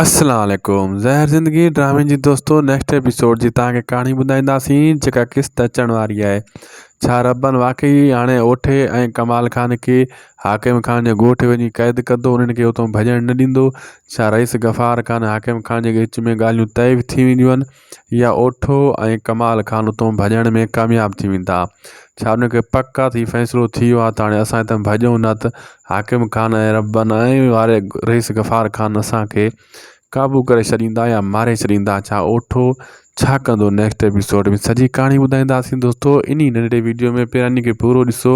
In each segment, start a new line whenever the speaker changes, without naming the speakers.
اسلام عليڪم زهر زندگي ڊرامي جي دوستو نيڪسٽ ايپيسوڊ جي توهان کي ڪهاڻي ٻڌائينداسين جيڪا قسط اچڻ واري آهي ڇا ربن واقعي هاڻي اوٺي ۽ ڪمال خان کي حاڪم خان جي ڳوٺ وڃي قيد ڪندو انهن کي اتو ڀڄڻ نه ڏيندو ڇا رئيس غفار خان حاڪم خان جي وچ ۾ ڳالهيون طئي ٿي وينديون يا اوٺو ۽ ڪمال خان اتون ڀڄڻ ۾ ڪامياب ٿي ويندا. ڇا انهن کي پڪ آ ته هي فيصلو ٿي ويو آ ته هاڻي اسان هتان ڀڄون نه ته حاڪم خان ۽ ربن ۽ واري رئيس غفار خان اسان کي قابو ڪري ڇڏيندا يا ماري ڇڏيندا ڇا اوٺو ڇا ڪندو نيڪسٽ ايپيسوڊ ۾ سڄي ڪهاڻي ٻڌائينداسين دوستو انهي ننڍڙي ويڊيو ۾ پهريان انهي کي پورو ڏسو.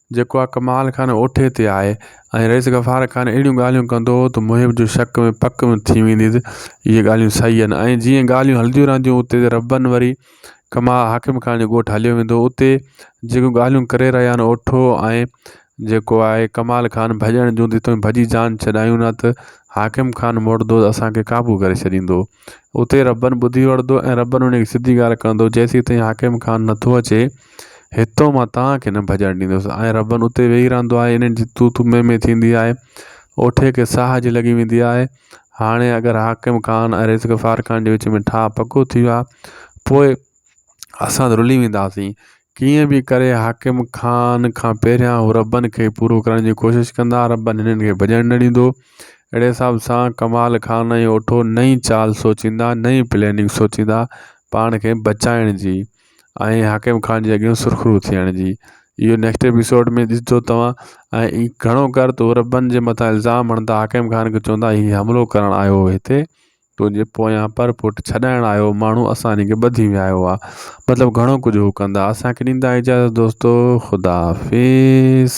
جيڪو آ ڪمال خان اوٺي تي آهي ۽ رئيس غفار خان اهڙيون ڳالهيون ڪندو هو ته محب جو شڪ ۾ پڪ ۾ ٿي ويندي ته اهي ڳالهيون صحيح آهن ۽ جيئن ڳالهيون هلنديون رهنديون هو اتي ربن وري ڪما حاڪم خان جو ڳوٺ هليو ويندو اتي جيڪو ڳالهيون ڪري رهيا آهن اوٺو ۽ جيڪو آهي ڪمال خان ڀڄڻ جون ته تون ڀڄي جان ڇڏايون نه ته حاڪم خان موٽدو اسان کي قابو ڪري ڇڏيندو اتي ربن ٻڌي وٺندو ۽ ربن ان کي سڌي ڳالهه ڪندو جيسين تائين حاڪم خان نٿو اچي هتو مان توهان کي نه ڀڄڻ ڏيندس ۽ ربن اتي ويهي رهندو آهي انهن جي تو تو مي مي ٿيندي آهي اوٺي کي ساهه جي لڳي ويندي آهي هاڻي اگر حاڪم خان ۽ ريس غفار خان جي وچ ۾ ٺاهه پڪو ٿي ويو آهي پوء اسان رلي وينداسين. ڪيئن به ڪري حاڪم خان کان پهريان هو ربن کي پورو ڪرڻ جي ڪوشش ڪندا. ربن هنن کي ڀڄڻ نه ڏيندو. اهڙي حساب سان ڪمال خان ۽ اوٺو نئين چال سوچيندا، نئين پليننگ سوچيندا پاڻ کي بچائڻ جي ۽ حاڪم خان جي اڳيان سرخرو ٿيڻ جي. اهو نيڪسٽ ايپيسوڊ ۾ ڏسجو توهان ۽ گهڻو ڪر ته هو ربن جي مٿان الزام هڻندا، حاڪم خان کي چوندا هي حملو ڪرڻ آيو هو هتي. تنهنجي پويان پر پٽ ڇڏائڻ آيو ماڻهو اسان هنکي ٻڌي ويايو آ مطلب گهڻو ڪجهه هو ڪندا اسانکي ڏيندا اجازت دوستو خداحافظ